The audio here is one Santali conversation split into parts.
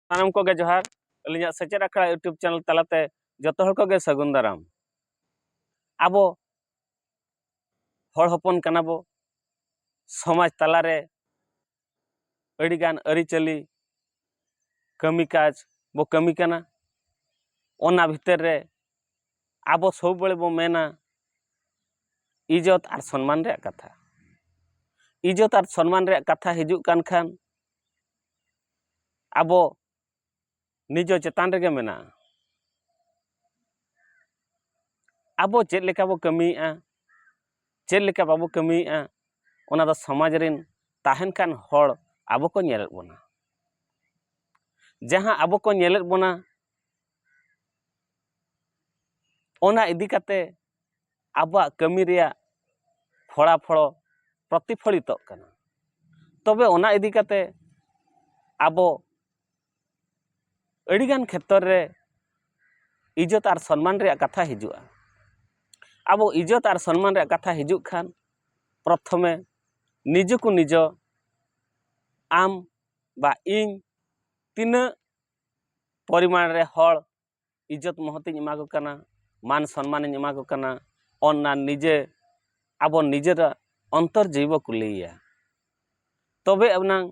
ᱥᱟᱱᱟᱢ ᱠᱚᱜᱮ ᱡᱚᱦᱟᱨ ᱟᱹᱞᱤᱧᱟᱜ ᱥᱮᱪᱮᱫ ᱟᱠᱷᱲᱟ ᱤᱭᱩᱴᱩᱵᱽ ᱪᱮᱱᱮᱞ ᱛᱟᱞᱟᱛᱮ ᱡᱚᱛᱚ ᱦᱚᱲ ᱠᱚᱜᱮ ᱥᱟᱹᱜᱩᱱ ᱫᱟᱨᱟᱢ ᱟᱵᱚ ᱦᱚᱲ ᱦᱚᱯᱚᱱ ᱠᱟᱱᱟ ᱵᱚ ᱥᱚᱢᱟᱡᱽ ᱛᱟᱞᱟᱨᱮ ᱟᱹᱰᱤᱜᱟᱱ ᱟᱹᱨᱤᱪᱟᱹᱞᱤ ᱠᱟᱹᱢᱤ ᱠᱟᱡᱽ ᱵᱚ ᱠᱟᱹᱢᱤ ᱠᱟᱱᱟ ᱚᱱᱟ ᱵᱷᱤᱛᱟᱹᱨ ᱨᱮ ᱟᱵᱚ ᱥᱚᱵᱽᱵᱟᱹᱲ ᱵᱚ ᱢᱮᱱᱟ ᱤᱡᱚᱛ ᱟᱨ ᱥᱚᱱᱢᱟᱱ ᱨᱮᱭᱟᱜ ᱠᱟᱛᱷᱟ ᱤᱡᱚᱛ ᱟᱨ ᱥᱚᱱᱢᱟᱱ ᱨᱮᱭᱟᱜ ᱠᱟᱛᱷᱟ ᱦᱤᱡᱩᱜ ᱠᱟᱱ ᱠᱷᱟᱱ ᱟᱵᱚ ᱱᱤᱡᱚ ᱪᱮᱛᱟᱱ ᱨᱮᱜᱮ ᱢᱮᱱᱟᱜᱼᱟ ᱟᱵᱚ ᱪᱮᱫ ᱞᱮᱠᱟ ᱵᱚ ᱠᱟᱹᱢᱤᱭᱮᱜᱼᱟ ᱪᱮᱫ ᱞᱮᱠᱟ ᱵᱟᱵᱚ ᱠᱟᱹᱢᱤᱭᱮᱜᱼᱟ ᱚᱱᱟ ᱫᱚ ᱥᱚᱢᱟᱡᱽ ᱨᱮᱱ ᱛᱟᱦᱮᱱ ᱠᱟᱱ ᱦᱚᱲ ᱟᱵᱚ ᱠᱚ ᱧᱮᱞᱮᱫ ᱵᱚᱱᱟ ᱡᱟᱦᱟᱸ ᱟᱵᱚ ᱠᱚ ᱧᱮᱞᱮᱫ ᱵᱚᱱᱟ ᱚᱱᱟ ᱤᱫᱤ ᱠᱟᱛᱮ ᱟᱵᱚᱣᱟᱜ ᱠᱟᱹᱢᱤ ᱨᱮᱭᱟᱜ ᱯᱷᱚᱲᱟ ᱯᱷᱚᱲᱚ ᱯᱨᱚᱛᱤᱯᱷᱚᱞᱤᱛᱚᱜ ᱠᱟᱱᱟ ᱛᱚᱵᱮ ᱚᱱᱟ ᱤᱫᱤ ᱠᱟᱛᱮ ᱟᱵᱚ ᱟᱹᱰᱤᱜᱟᱱ ᱠᱷᱮᱛᱨᱚ ᱨᱮ ᱤᱡᱽᱡᱚᱛ ᱟᱨ ᱥᱚᱱᱢᱟᱱ ᱨᱮᱭᱟᱜ ᱠᱟᱛᱷᱟ ᱦᱤᱡᱩᱜᱼᱟ ᱟᱵᱚ ᱤᱡᱽᱡᱚᱛ ᱟᱨ ᱥᱚᱱᱢᱟᱱ ᱨᱮᱭᱟᱜ ᱠᱟᱛᱷᱟ ᱦᱤᱡᱩᱜ ᱠᱷᱟᱱ ᱯᱨᱚᱛᱷᱚᱢᱮ ᱱᱤᱡᱚ ᱠᱚ ᱱᱤᱡᱚ ᱟᱢ ᱵᱟ ᱤᱧ ᱛᱤᱱᱟᱹᱜ ᱯᱚᱨᱤᱢᱟᱱ ᱨᱮ ᱦᱚᱲ ᱤᱡᱽᱡᱚᱛ ᱢᱚᱦᱚᱛᱤᱧ ᱮᱢᱟ ᱠᱚ ᱠᱟᱱᱟ ᱢᱟᱱ ᱥᱚᱱᱢᱟᱱᱤᱧ ᱮᱢᱟ ᱠᱚ ᱠᱟᱱᱟ ᱚᱱᱟ ᱱᱤᱡᱮ ᱟᱵᱚ ᱱᱤᱡᱮᱨᱟᱜ ᱚᱱᱛᱚᱨ ᱡᱤᱣᱤ ᱵᱚ ᱠᱩᱞᱤᱭᱮᱭᱟ ᱛᱚᱵᱮ ᱟᱱᱟᱝ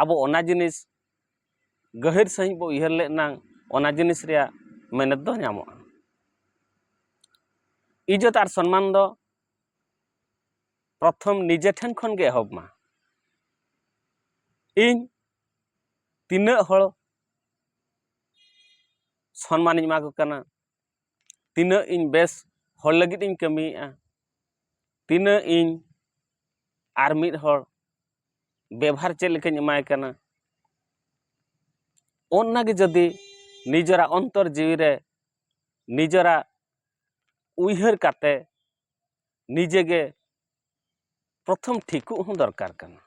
ᱟᱵᱚ ᱚᱱᱟ ᱡᱤᱱᱤᱥ ᱜᱟᱹᱦᱤᱨ ᱥᱟᱺᱦᱤᱡ ᱵᱚ ᱩᱭᱦᱟᱹᱨ ᱞᱮᱫ ᱮᱱᱟᱝ ᱚᱱᱟ ᱡᱤᱱᱤᱥ ᱨᱮᱭᱟᱜ ᱢᱮᱱᱮᱛ ᱫᱚ ᱧᱟᱢᱚᱜᱼᱟ ᱤᱡᱽᱡᱚᱛ ᱟᱨ ᱥᱚᱱᱢᱟᱱ ᱫᱚ ᱯᱨᱚᱛᱷᱚᱢ ᱱᱤᱡᱮ ᱴᱷᱮᱱ ᱠᱷᱚᱱ ᱜᱮ ᱮᱦᱚᱵ ᱢᱟ ᱤᱧ ᱛᱤᱱᱟᱹᱜ ᱦᱚᱲ ᱥᱚᱱᱢᱟᱱᱤᱧ ᱮᱢᱟ ᱠᱚ ᱠᱟᱱᱟ ᱛᱤᱱᱟᱹᱜ ᱤᱧ ᱵᱮᱥ ᱦᱚᱲ ᱞᱟᱹᱜᱤᱫ ᱤᱧ ᱠᱟᱹᱢᱤᱭᱮᱫᱼᱟ ᱛᱤᱱᱟᱹᱜ ᱤᱧ ᱟᱨ ᱢᱤᱫ ᱦᱚᱲ ᱵᱮᱵᱷᱟᱨ ᱪᱮᱫ ᱞᱮᱠᱟᱧ ᱮᱢᱟᱭ ᱠᱟᱱᱟ ᱚᱱᱟ ᱜᱮ ᱡᱩᱫᱤ ᱱᱤᱡᱮᱨᱟᱜ ᱚᱱᱛᱚᱨ ᱡᱤᱣᱤ ᱨᱮ ᱱᱤᱡᱮᱨᱟᱜ ᱩᱭᱦᱟᱹᱨ ᱠᱟᱛᱮ ᱱᱤᱡᱮ ᱜᱮ ᱯᱨᱚᱛᱷᱚᱢ ᱴᱷᱤᱠᱩᱜ ᱦᱚᱸ ᱫᱚᱨᱠᱟᱨ ᱠᱟᱱᱟ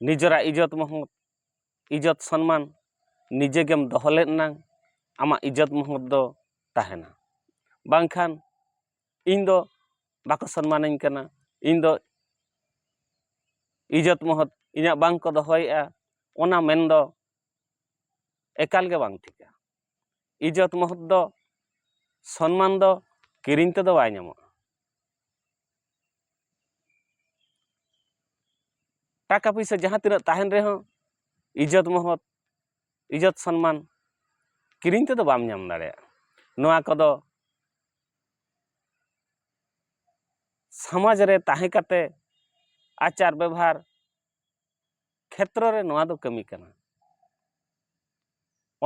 ᱱᱤᱡᱮᱨᱟᱜ ᱤᱡᱚᱛ ᱢᱚᱦᱚᱛ ᱤᱡᱽᱡᱚᱛ ᱥᱚᱱᱢᱟᱱ ᱱᱤᱡᱮ ᱜᱮᱢ ᱫᱚᱦᱚ ᱞᱮᱫ ᱮᱱᱟᱝ ᱟᱢᱟᱜ ᱤᱡᱽᱡᱚᱛ ᱢᱚᱦᱚᱛ ᱫᱚ ᱛᱟᱦᱮᱱᱟ ᱵᱟᱝᱠᱷᱟᱱ ᱤᱧ ᱫᱚ ᱵᱟᱠᱚ ᱥᱚᱱᱢᱟᱱᱤᱧ ᱠᱟᱱᱟ ᱤᱧ ᱫᱚ ᱤᱡᱽᱡᱚᱛ ᱢᱚᱦᱚᱛ ᱤᱧᱟᱹᱜ ᱵᱟᱝ ᱠᱚ ᱫᱚᱦᱚᱭᱮᱫᱼᱟ ᱚᱱᱟ ᱢᱮᱱ ᱫᱚ ᱮᱠᱟᱞ ᱜᱮ ᱵᱟᱝ ᱴᱷᱤᱠᱟ ᱤᱡᱽᱡᱚᱛ ᱢᱚᱦᱚᱛ ᱫᱚ ᱥᱚᱱᱢᱟᱱ ᱫᱚ ᱠᱤᱨᱤᱧ ᱛᱮᱫᱚ ᱵᱟᱭ ᱧᱟᱢᱚᱜᱼᱟ ᱴᱟᱠᱟ ᱯᱩᱭᱥᱟᱹ ᱡᱟᱦᱟᱸ ᱛᱤᱱᱟᱹᱜ ᱛᱟᱦᱮᱱ ᱨᱮᱦᱚᱸ ᱤᱡᱽᱡᱚᱛ ᱢᱚᱦᱚᱛ ᱤᱡᱽᱡᱚᱛ ᱥᱚᱱᱢᱟᱱ ᱠᱤᱨᱤᱧ ᱛᱮᱫᱚ ᱵᱟᱢ ᱧᱟᱢ ᱫᱟᱲᱮᱭᱟᱜᱼᱟ ᱱᱚᱣᱟ ᱠᱚᱫᱚ ᱥᱚᱢᱟᱡᱽ ᱨᱮ ᱛᱟᱦᱮᱸ ᱠᱟᱛᱮ ᱟᱪᱟᱨ ᱵᱮᱵᱷᱟᱨ ᱠᱷᱮᱛᱨᱚ ᱨᱮ ᱱᱚᱣᱟ ᱫᱚ ᱠᱟᱹᱢᱤ ᱠᱟᱱᱟ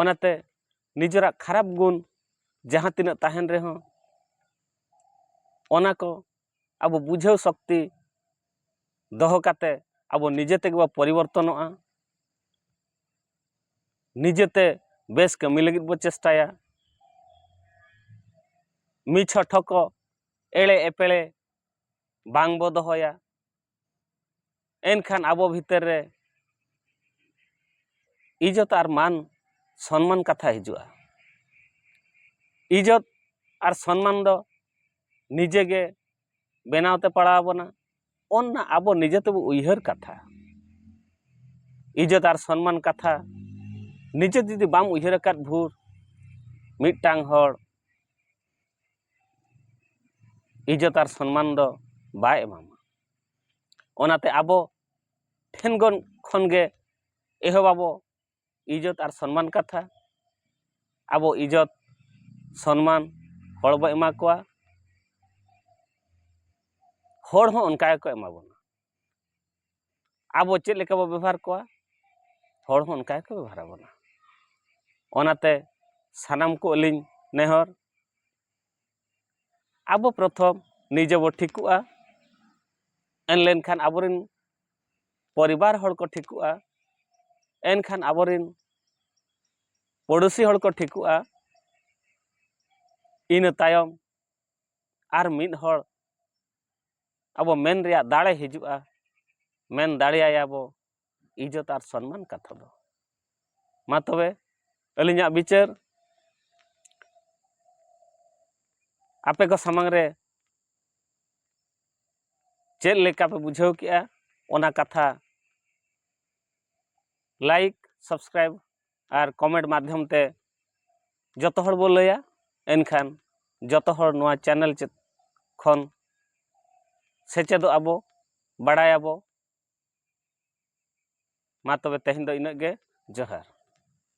ᱚᱱᱟᱛᱮ ᱱᱤᱡᱮᱨᱟᱜ ᱠᱷᱟᱨᱟᱯ ᱜᱩᱱ ᱡᱟᱦᱟᱸ ᱛᱤᱱᱟᱹᱜ ᱛᱟᱦᱮᱱ ᱨᱮᱦᱚᱸ ᱚᱱᱟ ᱠᱚ ᱟᱵᱚ ᱵᱩᱡᱷᱟᱹᱣ ᱥᱚᱠᱛᱤ ᱫᱚᱦᱚ ᱠᱟᱛᱮ ᱟᱵᱚ ᱱᱤᱡᱮ ᱛᱮᱜᱮ ᱵᱚ ᱯᱚᱨᱤᱵᱚᱨᱛᱚᱱᱚᱜᱼᱟ ᱱᱤᱡᱮᱛᱮ ᱵᱮᱥ ᱠᱟᱹᱢᱤ ᱞᱟᱹᱜᱤᱫ ᱵᱚ ᱪᱮᱥᱴᱟᱭᱟ ᱢᱤᱪᱷᱚ ᱴᱷᱚᱠᱚ ᱮᱲᱮ ᱮᱯᱮᱲᱮ ᱵᱟᱝ ᱵᱚ ᱫᱚᱦᱚᱭᱟ ᱮᱱᱠᱷᱟᱱ ᱟᱵᱚ ᱵᱷᱤᱛᱟᱹᱨ ᱨᱮ ᱤᱡᱚᱛ ᱟᱨ ᱢᱟᱱ ᱥᱚᱱᱢᱟᱱ ᱠᱟᱛᱷᱟ ᱦᱤᱡᱩᱜᱼᱟ ᱤᱡᱚᱛ ᱟᱨ ᱥᱚᱱᱢᱟᱱ ᱫᱚ ᱱᱤᱡᱮ ᱜᱮ ᱵᱮᱱᱟᱣ ᱛᱮ ᱯᱟᱲᱟᱣ ᱟᱵᱚᱱᱟ ᱚᱱᱟ ᱟᱵᱚ ᱱᱤᱡᱮ ᱛᱮᱵᱚ ᱩᱭᱦᱟᱹᱨ ᱠᱟᱛᱷᱟ ᱤᱡᱚᱛ ᱟᱨ ᱥᱚᱱᱢᱟᱱ ᱠᱟᱛᱷᱟ ᱱᱤᱡᱮ ᱡᱩᱫᱤ ᱵᱟᱢ ᱩᱭᱦᱟᱹᱨ ᱟᱠᱟᱫ ᱵᱷᱳᱨ ᱢᱤᱫᱴᱟᱝ ᱦᱚᱲ ᱤᱡᱚᱛ ᱟᱨ ᱥᱚᱱᱢᱟᱱ ᱫᱚ ᱵᱟᱭ ᱮᱢᱟᱢᱟ ᱚᱱᱟᱛᱮ ᱟᱵᱚ ᱴᱷᱮᱱ ᱜᱚᱱ ᱠᱷᱚᱱ ᱜᱮ ᱮᱦᱚᱵ ᱟᱵᱚ ᱤᱡᱚᱛ ᱟᱨ ᱥᱚᱱᱢᱟᱱ ᱠᱟᱛᱷᱟ ᱟᱵᱚ ᱤᱡᱚᱛ ᱥᱚᱱᱢᱟᱱ ᱦᱚᱲ ᱵᱚ ᱮᱢᱟ ᱠᱚᱣᱟ ᱦᱚᱲ ᱦᱚᱸ ᱚᱱᱠᱟ ᱜᱮᱠᱚ ᱮᱢᱟ ᱵᱚᱱᱟ ᱟᱵᱚ ᱪᱮᱫ ᱞᱮᱠᱟ ᱵᱚ ᱵᱮᱵᱚᱦᱟᱨ ᱠᱚᱣᱟ ᱦᱚᱲ ᱦᱚᱸ ᱚᱱᱠᱟ ᱜᱮᱠᱚ ᱵᱮᱵᱚᱦᱟᱨ ᱟᱵᱚᱱᱟ ᱚᱱᱟᱛᱮ ᱥᱟᱱᱟᱢ ᱠᱚ ᱟᱹᱞᱤᱧ ᱱᱮᱦᱚᱨ ᱟᱵᱚ ᱯᱨᱚᱛᱷᱚᱢ ᱱᱤᱡᱮ ᱵᱚ ᱴᱷᱤᱠᱚᱜᱼᱟ ᱮᱱ ᱞᱮᱱᱠᱷᱟᱱ ᱟᱵᱚ ᱨᱮᱱ ᱯᱚᱨᱤᱵᱟᱨ ᱦᱚᱲ ᱠᱚ ᱴᱷᱤᱠᱚᱜᱼᱟ ᱮᱱᱠᱷᱟᱱ ᱟᱵᱚ ᱨᱮᱱ ᱯᱚᱲᱚᱥᱤ ᱦᱚᱲ ᱠᱚ ᱴᱷᱤᱠᱚᱜᱼᱟ ᱤᱱᱟᱹ ᱛᱟᱭᱚᱢ ᱟᱨ ᱢᱤᱫ ᱦᱚᱲ ᱟᱵᱚ ᱢᱮᱱ ᱨᱮᱭᱟᱜ ᱫᱟᱲᱮ ᱦᱤᱡᱩᱜᱼᱟ ᱢᱮᱱ ᱫᱟᱲᱮᱭᱟᱭᱟ ᱵᱚ ᱤᱡᱽᱡᱚᱛ ᱟᱨ ᱥᱚᱱᱢᱟᱱ ᱠᱟᱛᱷᱟ ᱫᱚ ᱢᱟ ᱛᱚᱵᱮ ᱟᱹᱞᱤᱧᱟᱜ ᱵᱤᱪᱟᱹᱨ ᱟᱯᱮ ᱠᱚ ᱥᱟᱢᱟᱝ ᱨᱮ ᱪᱮᱫ ᱞᱮᱠᱟ ᱯᱮ ᱵᱩᱡᱷᱟᱹᱣ ᱠᱮᱜᱼᱟ ᱚᱱᱟ ᱠᱟᱛᱷᱟ ᱞᱟᱭᱤᱠ ᱥᱟᱵᱥᱠᱨᱟᱭᱤᱵ ᱟᱨ ᱠᱚᱢᱮᱱᱴ ᱢᱟᱫᱽᱫᱷᱚᱢ ᱛᱮ ᱡᱚᱛᱚ ᱦᱚᱲ ᱵᱚᱱ ᱞᱟᱹᱭᱟ ᱮᱱᱠᱷᱟᱱ ᱡᱚᱛᱚ ᱦᱚᱲ ᱱᱚᱣᱟ ᱪᱮᱱᱮᱞ ᱠᱷᱚᱱ ᱥᱮᱪᱮᱫᱚᱜ ᱟᱵᱚ ᱵᱟᱲᱟᱭ ᱟᱵᱚ ᱢᱟ ᱛᱚᱵᱮ ᱛᱮᱦᱮᱧ ᱫᱚ ᱤᱱᱟᱹᱜ ᱜᱮ ᱡᱚᱦᱟᱨ